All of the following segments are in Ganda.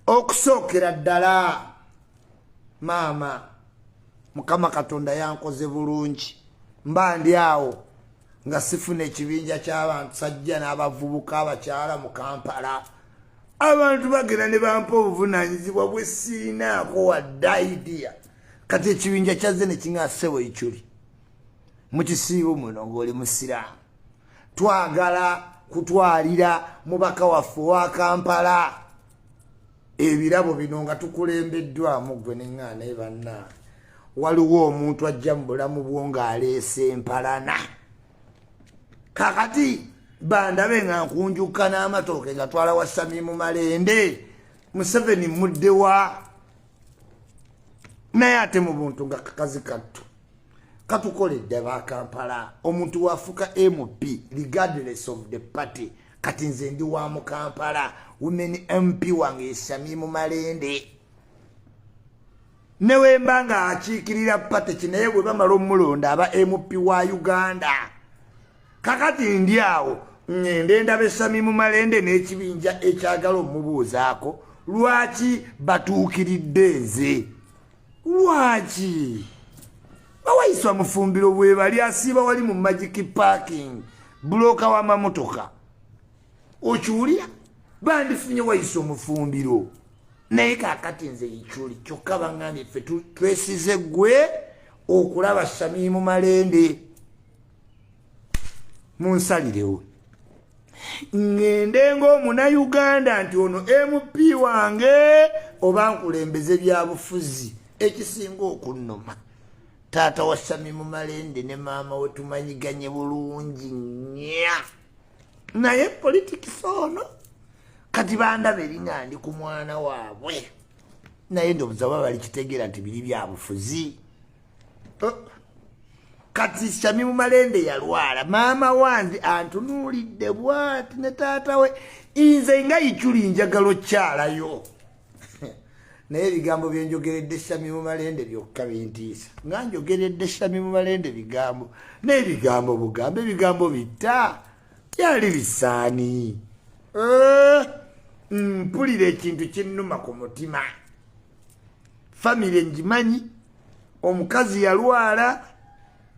okusookera ddala maama mukama katonda yankoze bulungi mba ndi awo nga sifuna ekibinja ky'abantu sajja n'abavubuka abakyala mu kampala abantu bagenda ne bampa obuvunaanyizibwa bwe siinaako wadde idiya kati ekibinja kyazze ne kiŋasebo ekyuli mu kisiibo muno ng'oli musiraamu twagala kutwalira mubaka waffe owa kampala ebirabo bino nga tukulembeddwamu gwe neŋŋaana ebanna waliwo omuntu ajja mu bulamu bwo ng'aleese empalana kakati bandabe nga nkunjukka n'amatooke ngatwala wa samimu malende museveni muddewa naye ate mu buntu nga kakazi kattu katukoledde bakampala omuntu wafuka mp regardless of the party kati nze ndi wa mukampala women mp wange esami mu malende newemba nga akiikirira pateki naye bwe bamala omulonda aba mp wa uganda kakati ndi awo ngende ndaba esami mu malende n'ekibinja ekyagala omubuuzaako lwaki batuukiridde nze lwaki bawaiswa mufumbiro bwebali asiiba wali mu magic parking buloka wamamotoka okiwulira bandifunye waisa omufumbiro naye kakati nze ikyuli kyokka bangambye ffe twesize gwe okulaba samimu malende munsalirewo ngende ngaomunauganda nti ono mp wange oba nkulembeze byabufuzi ekisinga okunnuma taata wa sami mumalende ne maama we tumanyiganye bulungi nya naye politics ono kati bandaba eringa ndi ku mwana waabwe naye ndobuza oba bali kitegeera nti biri byabufuzi oh. kati shami mumalende yalwala maama wange antunuulidde bwati ne taata we inze nga ichuli njagala okyalayo naye ebigambo byenjogeredde shami mumalende byokka bintiisa nga njogeredde shami mumalende bigambo naye bigambo bugambo ebigambo bitta byali bisaani eh, mpulira ekintu kinnuma ku mutima famire ngimanyi omukazi yalwala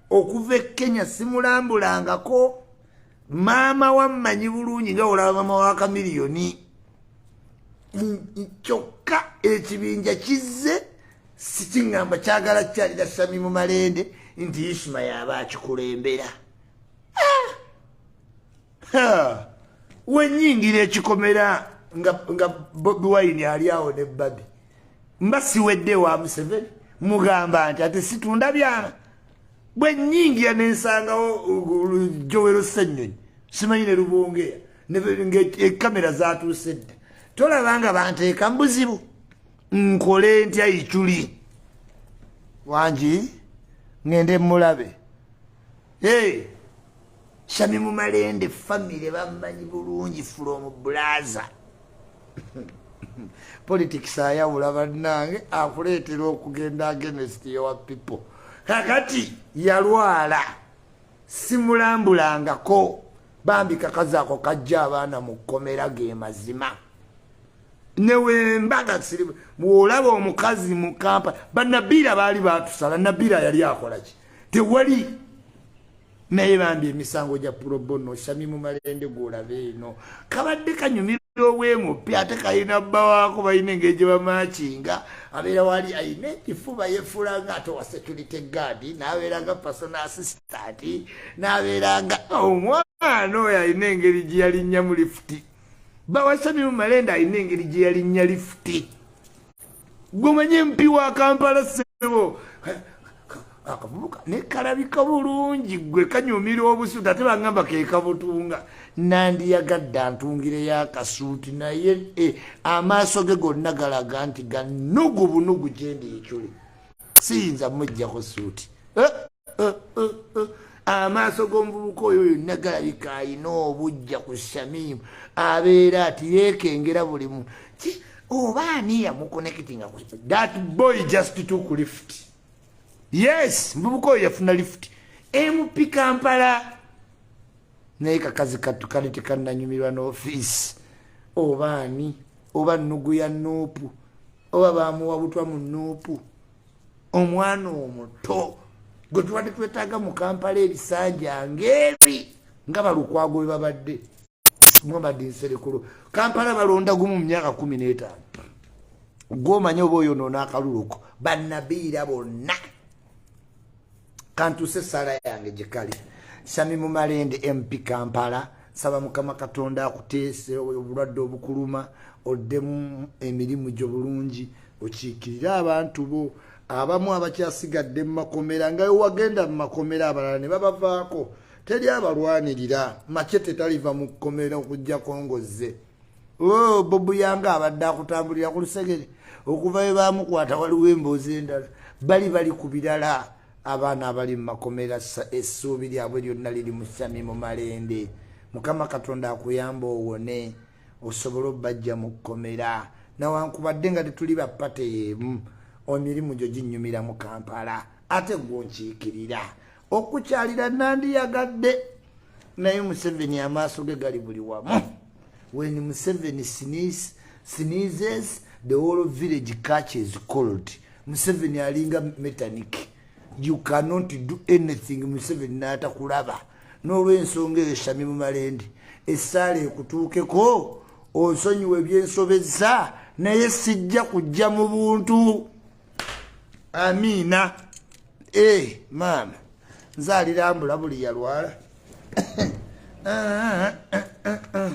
okuva e kenya simulambulangako maama wammanyi bulungi nga olaba maama wa kamiliyoni kyokka ekibinja kizze sikiŋŋamba kyagala kyalira sami mu malende nti isuma yaaba akikulembera wenyingira ekikomera nga nga bobi wine ali awo ne babi mba siwedde wa museveni mugamba nti ate situunda byama bwe nyingira ne nsangawo jowero ssenyonyi simanyi ne lubongera ngaekamera e, zatuuse dda tolaba nga banteeka mu buzibu nkole ntya iculi wangi ngende mulabe hey. Shami mu malende family bamanyi bulungi from blaza politics ayawula bannange akuleetera okugenda agenest yowa people kakati yalwala simulambulangako bambi kakazi ako kajja abaana mu kkomera ge mazima newembaga siri bwolaba omukazi mu kampa banabiira baali batusala nabiira yali akolaki tewali naye bambi emisango gya purobono sami mu malende gwolabe eno kabadde kanyumira owemupya ate kalina bba waako balina engeri gye bamakinga abeera wali alina ekifuba yefuula nga ate owa security guard n'abeera nga person assistant n'abeera nga omwana oyo alina engeri gye yalinnyamu lifuti bba wa sami mu malende alina engeri gye yalinnya lifuti gwomanyi mpi wa kampala sebo akavubuka ne kalabika bulungi gwe kanyumira obusuuti ate bangamba kekabutunga nandiyagadde antungire yakasuuti naye eh, amaaso ge gonna galaga nti ganugu bunugu gyendi ekyuli siyinza mujjako suuti eh? uh, uh, uh. amaaso g'omuvubuka oyo yonna galabika alina obujja ku shamimu abeera ati yeekengera buli mu oba ani yamukonekitinga ku that boy just took lift yes muvubuka oyo yafuna lift mp kampala naye kakazi kattu kali tekananyumirwa n'ofiisi oba ani oba nnugu ya nuupu oba bamuwa butwa mu nuupu omwana omuto gwe tubadde twetaaga mu kampala ebisanja ngaebi nga balukwago bwe babadde mwabadde nserekulu kampala balonda gumu mu myaka kumi n'etaano gwomanyi oba oyonoona akaluluko banabiira bonna kantuse sala yange gyekali sami mumalende mp kampala saba mukama katonda akuteese obulwadde obukuluma oddemu emirimu gyo bulungi okiikirire abantu bo abamu abakyasigadde mu makomera nga wewagenda mu makomera abalala ne babavaako teri abalwanirira mace tetaliva mu kkomera okujjako ngozze oh, bobu yanga abadde akutambulira ku lusegere okuva we bamukwata waliwo emboozi endala bali bali ku birala abaana abali mu makomera essuubi lyabwe lyonna liri mu sami mu malende mukama katonda akuyamba owone osobole obajja mu kkomera nawankubadde nga tetuli bapate yeemu emirimu gyo ginyumira mu kampala ate gwe onkiikirira okukyalira nandiyagadde naye museveni amaaso ge gali buli wamu when museveni sneeze, sneezes the whole village catches cold museveni alinga metanik you cannot do anything museveni naatakulaba n'olwensonga eyo shami mu malende essaala ekutuukeko onsonyiwa ebyensobezza naye sijja kujja mu buntu amiina eh, maama nze alirambula buli yalwala